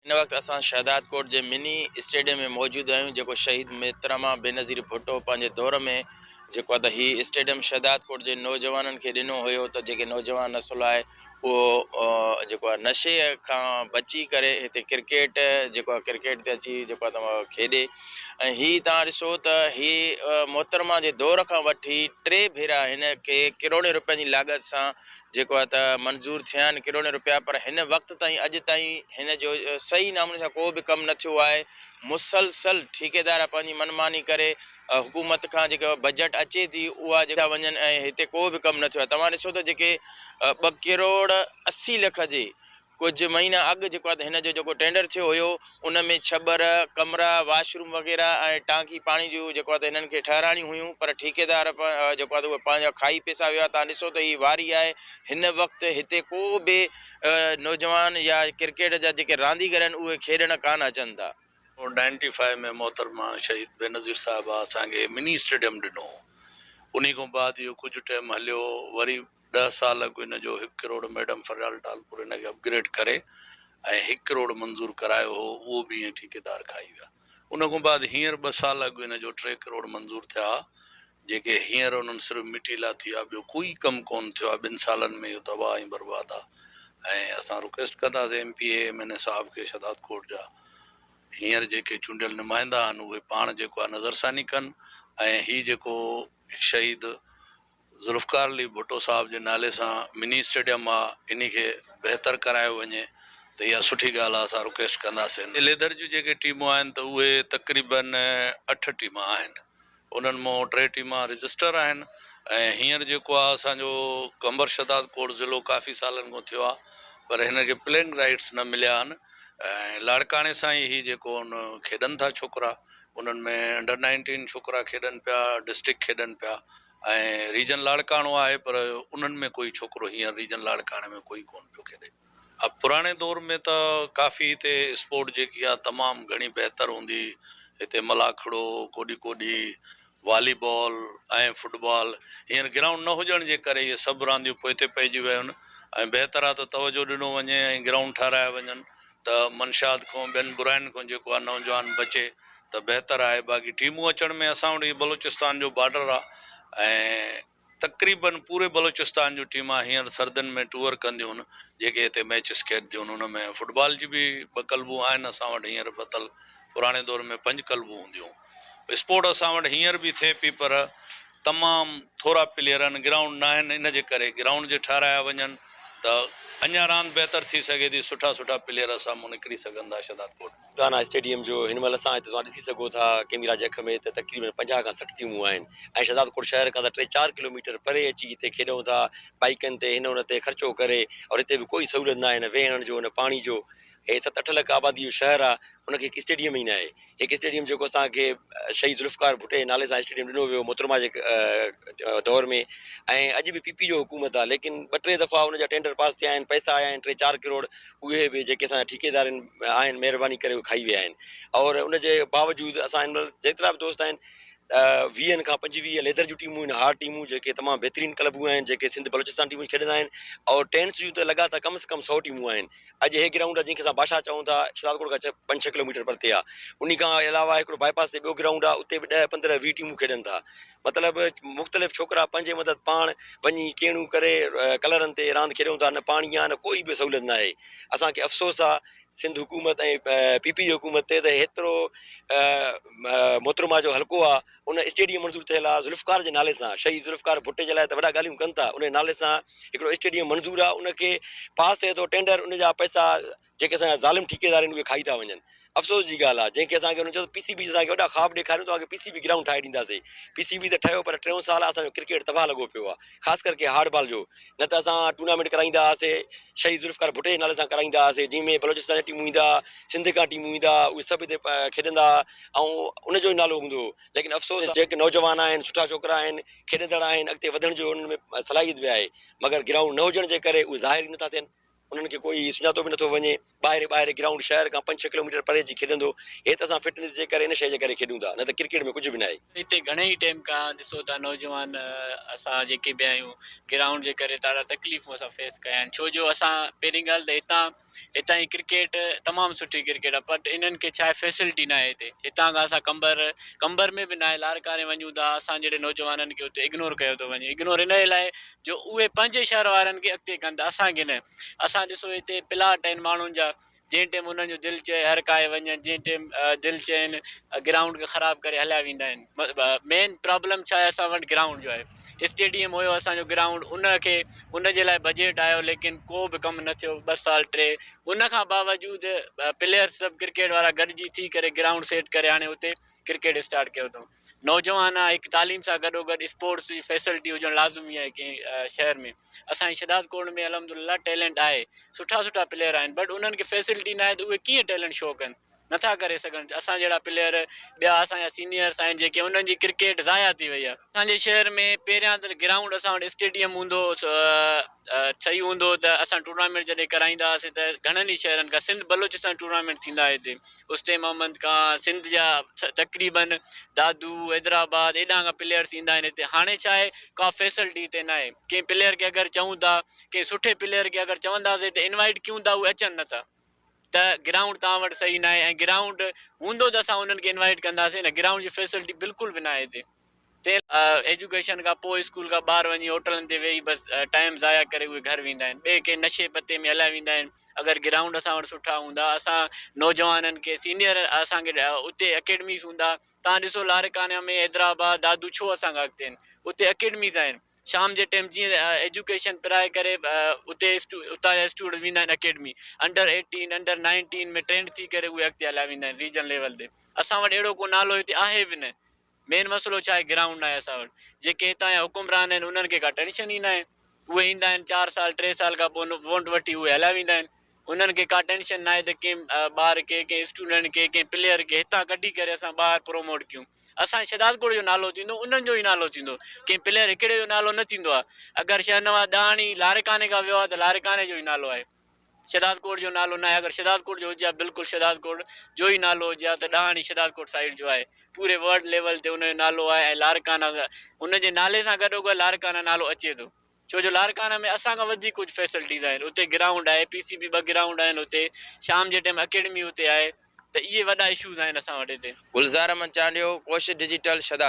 هن وقت اسان شهدادڪوٽ جي مني اسٽيڊيم ۾ موجود آهيون جيڪو شهيد محترمه بينظير ڀٽو پنهنجي دور ۾ جيڪو ادا هي اسٽيڊيم شهدادڪوٽ جي نوجوانن کي ڏنو هيو ته جيڪي نوجوان نسل آهي اهو جيڪو آهي نشي کان بچي ڪري هتي ڪرڪيٽ جيڪو آهي ڪرڪيٽ تي اچي جيڪو آهي تمام کيڏي ۽ هي تان ڏسو ته هي محترمه جي دور کان وٺي ٽي ڀيرا هن کي ڪروڙين روپين جي لاڳت سان جيڪو آهي ته منظور ٿيا آهن ڪروڙين روپيا پر هن وقت تائين اڄ تائين هن جو صحيح ناموني سان ڪو به ڪم نه ٿيو آهي مسلسل ٺيڪيدار پنهنجي من ماني ڪري حڪومت کان جيڪو بجيٽ اچي ٿي اها جيڪا وڃن ۽ هتي ڪو به ڪم نه ٿيو آهي توهان ڏسو ته جيڪي ٻه ڪروڙ اسي لک جي ڪجهه مهينا اڳ جيڪو آهي هن جو جيڪو ٽينڊر ٿيو هيو ان ۾ ڇٻر، ڪمرا، واش روم وغيره ۽ ٽانڪي پاڻي جون جيڪو آهي هنن کي ٺهرائڻيون هيون پر ٺيڪيدار جيڪو آهي اهي پنهنجا کائي پيسا ويو آهي تان ڏسو ته هي واري آهي هن وقت هتي ڪو به نوجوان يا ڪرڪيٽ جا جيڪي رانديگر آهن اهي کيڏڻ ڪانه اچن ٿا. نائنٽي فائيو ۾ محترمه شهيد بينظير صاحبه اسان کي مني اسٽيڊيم ڏنو هو انهي کان بعد اهو ڪجهه ٽيم هليو وري ڏهه سال اڳ ان جو هڪ ڪروڙ ميڊم فريال ٽالپور ان کي اپ گريڊ ڪري ۽ هڪ ڪروڙ منظور ڪرايو هو اهو به ائين ٺيڪيدار کائي ويا ان کان بعد هينئر ٻه سال اڳ ان جو ٽي ڪروڙ منظور ٿيا ها جيڪي هينئر انهن صرف مٽي لاء ٿي آ ٻيو ڪوئي ڪم ڪون ٿيو آ ٻن سالن ۾ اهو تباهه ۽ برباد آ ۽ اسان رڪويسٽ ڪنداسين M P A M N A صاحب کي شهداد ڪوٽ جا هينئر جيڪي چونڊيل نمائندا آهن اهي پاڻ جيڪو آ نظرثاني ڪن ۽ هي جيڪو شهيد ذوالفقار علي ڀٽو صاحب جي نالي سان مني اسٽيڊيم آ انهي کي بهتر ڪرايو وڃي ته اها سٺي ڳالهه آ اسان رڪويسٽ ڪنداسين. اليدر جون جيڪي ٽيمون آهن ته اهي تقريباً اٺ ٽيما آهن انهن مون ٽي ٽيما رجسٽر آهن ۽ هينئر جيڪو آ اسان جو قمبر شهداد ڪوٽ ضلعو ڪافي سالن کون ٿيو آ پر هن کي پلينگ رائيٽس نه مليا آهن ۽ لاڙڪاڻي سان ئي هي جيڪو ان کيڏن ٿا ڇوڪرا انهن ۾ انڊر نائنٽين ڇوڪرا کيڏن پيا ڊسٽرڪٽ کيڏن پيا ۽ ريجن لاڙڪاڻو آهي پر انهن ۾ ڪوئي ڇوڪرو هينئر ريجن لاڙڪاڻي ۾ ڪوئي ڪونه پيو کيڏي. ها پراڻي دور ۾ ته ڪافي هتي اسپورٽ جيڪي آهي تمام گهڻي بهتر هوندي هتي ملاکڙو، ڪوڏي ڪوڏي، والي بال ۽ فٽ بال هينئر گرائونڊ نه هجڻ جي ڪري اهي سڀ رانديون پوئتي پئجي ويون ۽ بهتر آهي ته توجهه ڏنو وڃي ۽ گرائونڊ ٺهرايا وڃن ته منشيات کان ٻين براين کان جيڪو آ نوجوان بچي ته بهتر آهي باقي ٽيمون اچڻ ۾ اسان وٽ هي بلوچستان جو بارڊر آ ۽ تقريبن پوري بلوچستان جون ٽيمون هينئر سردين ۾ ٽوئر ڪنديون جيڪي هتي ميچز کيڏنديون ان ۾ فٽبال جي به ٻه ڪلبون آهن اسان وٽ هينئر بتل پراڻي دور ۾ پنج ڪلبون هونديون هون. اسپورٽ اسان وٽ هينئر به ٿئي پئي پر تمام ٿورا پليئر آهن گرائونڊ ناهن ان جي ڪري گرائونڊ جي ٺهرايا وڃن ته اڃان راند بهتر ٿي سگهي ٿي سٺا سٺا پليئر اسان مون نڪري سگهن ٿا شهداد ڪوٽ. گانا اسٽيڊيم جو هن مهل اسان هتي توهان ڏسي سگهو ٿا ڪيميرا جي اک ۾ ته تقريبن پنجاهه کان سٺ ٽيمون آهن ۽ شهداد ڪوٽ شهر کان ته ٽي چار ڪلوميٽر پري اچي هتي کيڏون ٿا بائيڪن تي هن ان تي خرچو ڪري اور هتي به ڪوئي سهولت ناهي نه ويهڻ جو نه پاڻي جو هي ست اٺ لک آبادي جو شهر آ ان کي هڪ اسٽيڊيم ئي ناهي هڪ اسٽيڊيم جيڪو اسان کي شهيد ذوالفقار ڀٽي جي نالي سان اسٽيڊيم ڏنو ويو محترمه جي دور ۾ ۽ اڄ به پي پي جو حڪومت آ ليڪن ٻه ٽي دفعا ان جا ٽينڊر پاس ٿيا آهن پئسا آيا آهن ٽي چار ڪروڙ اهي به جيڪي اسان جا ٺيڪيدار آهن مهرباني ڪري اهي کائي ويا آهن اور ان جي باوجود اسان هن مهل جيترا به دوست آهن ويهن کان پنجويهه ليدر جون ٽيمون آهن هارڊ ٽيمون جيڪي تمام بهترين ڪلبون آهن جيڪي سنڌ بلوچستان ٽيمون کيڏندا آهن اور ٽينس جون ته لڳا ته ڪم از ڪم سؤ ٽيمون آهن اڄ هي گرائونڊ جنهن کي اسان باشاهه چئون ٿا، شهدادڪوٽ کان پنج ڇهه ڪلوميٽر پرتي آ. انهي کان علاوه هڪڙو باء پاس تي ٻيو گرائونڊ آ، اتي به ڏهه پندرهن ويهه ٽيمون کيڏن ٿا. مطلب مختلف ڇوڪرا پنهنجي مدد پاڻ وڃي ڪيڻيون ڪري ڪلرن تي راند کيڏون ٿا، نه پاڻي آ نه ڪوئي به سهوليت ناهي. اسان کي افسوس آ سنڌ حڪومت ۽ پي پي جي حڪومت تي ته هيترو محترمه جو حلقو آ، ان اسٽيڊيم منظور ٿيل آ ذوالفقار جي نالي سان شهيد ذوالفقار ڀٽي جي لاء ته وڏا ڳالهيون ڪن ٿا انهي نالي سان هڪڙو اسٽيڊيم منظور آ ان کي پاس ٿئي ٿو ٽينڊر ان جا پئسا جيڪي اسان جا ظالم ٺيڪيدار آهن اهي کائي ٿا وڃن افسوس جي ڳالهه آ جنهن کي اسان کي انهن چيو پي سي بي جي اسان کي وڏا خواب ڏيکاريو توهان کي پي سي بي گرائونڊ ٺاهي ڏينداسي پي سي بي ته ٺهيو پر ٽيون سال اسان جو ڪرڪيٽ تباهه لڳو پيو آ خاص ڪر ڪي هارڊ بال جو نه ته اسان ٽورنامينٽ ڪرائيندا هئاسي شهيد ذوالفقار ڀٽي جي نالي سان ڪرائيندا هئاسي جنهن ۾ بلوچستان جا ٽيمون ايندا سنڌ کان ٽيمون ايندا اهي سڀ هتي کيڏندا ۽ ان جو ئي نالو هوندو هو ليڪن افسوس ته جيڪي نوجوان آهن سٺا ڇوڪرا آهن کيڏندڙ آهن اڳتي وڌڻ جو انهن ۾ صلاحيت به آهي مگر گرائونڊ نه هجڻ جي ڪري اهي ظاهر ئي نٿا ٿين انهن کي ڪوئي سڃاتو به نٿو وڃي ٻاهري ٻاهري گرائونڊ شهر کان پنج ڇهه ڪلوميٽر پري اچي کيڏندو هي ته اسان فٽنس جي ڪري ان شيء جي ڪري کيڏون ٿا نه ته ڪرڪيٽ ۾ ڪجهه به ناهي. هتي گهڻي ٽيم کان ڏسو ته نوجوان اسان جيڪي به آهيون گرائونڊ جي ڪري ڏاڍا تڪليفون اسان فيس ڪيا آهن ڇو جو اسان پهرين ڳالهه ته هتان هتان جي ڪرڪيٽ تمام سٺي ڪرڪيٽ آهي بٽ انهن کي ڇا آهي فيسلٽي ناهي هتي هتان کان اسان قمبر قمبر ۾ به ناهي لاڙڪاڻي وڃون ٿا اسان جهڙي نوجوانن کي اتي اگنور ڪيو ٿو وڃي اگنور ان لاء جو اهي پنهنجي شهر وارن کي اڳتي ڪن ٿا اسان کي نه اسان ڏسو هتي پلاٽ آهن ماڻهن جا جنهن ٽيم انهن جو دل چئي هر ڪاهي وڃن جنهن ٽيم دل چين گرائونڊ کي خراب ڪري هليا ويندا آهن مين پرابلم ڇا آهي اسان وٽ گرائونڊ جو آهي اسٽيڊيم هيو اسان جو گرائونڊ ان کي ان جي لاء بجيٽ آيو ليڪن ڪو به ڪم نه ٿيو ٻه سال ٽي ان کان باوجود پليئرس سڀ ڪرڪيٽ وارا گڏجي ٿي ڪري گرائونڊ سيٽ ڪري هاڻي اتي ڪرڪيٽ اسٽارٽ ڪيو اٿئون نوجوان آ هڪ تعليم سان گڏو گڏ اسپورٽس جي فيسلٽي هجڻ لازمي آهي ڪنهن شهر ۾ اسان جي شهداد ڪوٽ ۾ الحمد لله ٽيلنٽ آهي سٺا سٺا پليئر آهن بٽ انهن کي فيسلٽي نه آهي ته اهي ڪيئن ٽيلنٽ شو ڪن نٿا ڪري سگهن اسان جهڙا پليئر ٻيا اسان جا سينيئرس آهن جيڪي انهن جي ڪرڪيٽ ضايع ٿي وئي آهي اسان جي شهر ۾ پهريان ته گرائونڊ اسان وٽ اسٽيڊيم هوندو صحيح هوندو ته اسان ٽورنامينٽ جڏهن ڪرائيندا هئاسين ته گهڻن ئي شهرن کان سنڌ بلوچستان ٽورنامينٽ ٿيندا هئا هتي استي محمد کان سنڌ جا تقريبن دادو حيدرآباد ايڏانهن کان پليئرس ايندا آهن هتي هاڻي ڇا آهي ڪا فيسلٽي هتي نه آهي ڪنهن پليئر کي اگر چئون ٿا ڪنهن سٺي پليئر کي اگر چونداسين ته انوائيٽ ڪيون ٿا اهي اچن نٿا ته گرائونڊ توهان وٽ صحيح ناهي ۽ گرائونڊ هوندو ته اسان انهن کي انوائيٽ ڪنداسين نه گرائونڊ جي فيسلٽي بلڪل به ناهي هتي تنهن لاء ايجوڪيشن کان پوء اسڪول کان ٻاهر وڃي هوٽلن تي ويهي بس ٽائيم ضايع ڪري اهي گهر ويندا آهن ٻئي ڪنهن نشي پتي ۾ هليا ويندا آهن اگر گرائونڊ اسان وٽ سٺا هوندا اسان نوجوانن کي سينيئر اسان کي اتي اڪيڊميز هوندا توهان ڏسو لاڙڪانا ۾ حيدرآباد دادو ڇو اسان کان اڳتي آهن اتي اڪيڊميز آهن شام جي ٽيم جيئن ايجوڪيشن پرائي ڪري اتي اتان جا اسٽوڊنٽ ويندا آهن academy under eighteen under nineteen ۾ trained ٿي ڪري اهي اڳتي هليا ويندا آهن ريجن ليول تي اسان وٽ اهڙو ڪو نالو هتي آهي به نه مين مسئلو ڇا آهي گرائونڊ ناهي اسان وٽ جيڪي هتان جا حڪمران آهن انهن کي ڪا ٽينشن ئي ناهي اهي ايندا آهن چار سال ٽي سال کان پوء ووٽ وٺي اهي هليا ويندا آهن انهن کي ڪا ٽينشن ناهي ته ڪنهن ٻار کي ڪنهن اسٽوڊنٽ کي ڪنهن پليئر کي هتان ڪڍي ڪري اسان ٻاهر پروموٽ ڪيون اسان جي شھدادڪوٽ جو نالو ٿيندو انهن جو ئي نالو ٿيندو ڪنهن پليئر هڪڙي جو نالو نه ٿيندو آهي اگر شاهنواز ڏاهاڻي لاڙڪاڻي کان ويو آهي ته لاڙڪاڻي جو ئي نالو آهي شھدادڪوٽ جو نالو ناهي اگر شھدادڪوٽ جو هجي ها بلڪل شھدادڪوٽ جو ئي نالو هجي ها ته ڏاهاڻي شھدادڪوٽ سائيڊ جو آهي پوري ورلڊ ليول تي ان جو نالو آهي ۽ لاڙڪانا ان جي نالي سان گڏوگڏ لاڙڪانا نالو اچي ٿو ڇو جو لاڙڪاڻه ۾ اسان کان وڌيڪ ڪجهه فيسلٽيز آهن اتي گرائونڊ آهي پي سي بي ٻه گرائونڊ آهن اتي شام جي ٽيم اڪيڊمي اتي آهي ته اهي وڏا اشوز آهن اسان وٽ هتي. گلزار احمد چانڊيو ڪوشش ڊجيٽل شھداد.